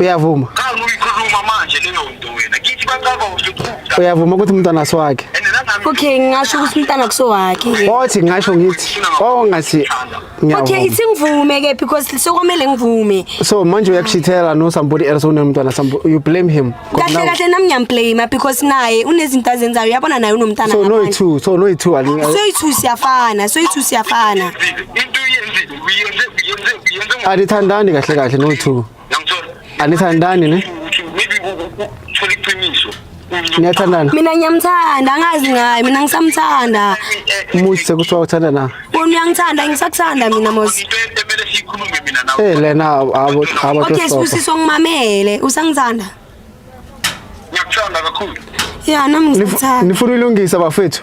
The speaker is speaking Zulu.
Uyavuma? Cha uyikhuluma manje leyo nto wena. Kithi bacaba usuphupha. Uyavuma ukuthi umntana siwakhe? Okay, ngingasho ukuthi umntana kusowakhe. Othi ngisho ngithi oh ngathi ngiyavuma. Okay, ithi ngivume ke because sokomele ngivume. So manje uyakushithela no somebody else unomntana somebody you blame him. Kahle kahle nami ngiyamblame because naye unezinto azenzayo uyabona naye unomntana. So no two, so no two. So two siyafana, so two siyafana. Into yenzile. uyenze uyenze uyenze ngo- anithandani kahle kahle no-two Ngiyangithola. Anithandani, ne? Uthi maybe u- u- u- uthola iqiniso Uthi- niyathandana mina ngiyamthanda angazi ngaye mina ngisamthanda Eh, muthi sekuthiwa uthanda na wena uyangithanda ngisakuthanda mina mos into emele siyikhulume mina nawe Eh lena abo abo okay tosofa. sibusiso ngimamele usangithanda ngiyakuthanda kakhulu ya nami Nifu- ngisakuthanda Nifuna ilungisa bafethu.